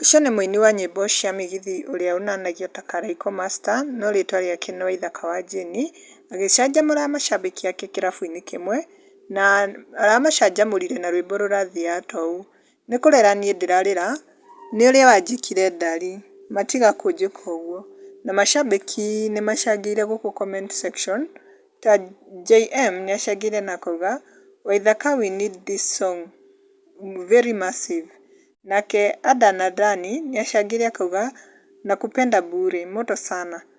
Ũcio nĩ mũini wa nyĩmbo cia Migithi ũrĩa ũnanagio ta Karaiko Master no rĩtwa rĩake nĩ Waithaka wa Jane agĩcanjamũra macambĩki ake kĩrabu-inĩ kĩmwe na aramacanjamũrire na rwĩmbo rũrathiaga ta ũũ. Nĩ kũrĩra niĩ ndĩrarĩra, nĩ ũrĩa wanjĩkire ndari, matiga kũnjĩka ũguo. Na macambĩki nĩ macangĩire gũkũ comment section, ta JM nĩ acangĩire na akauga, Waithaka we need this song very massive. Nake Adan Athani nĩ acangĩire akauga, nakupenda bure, moto sana.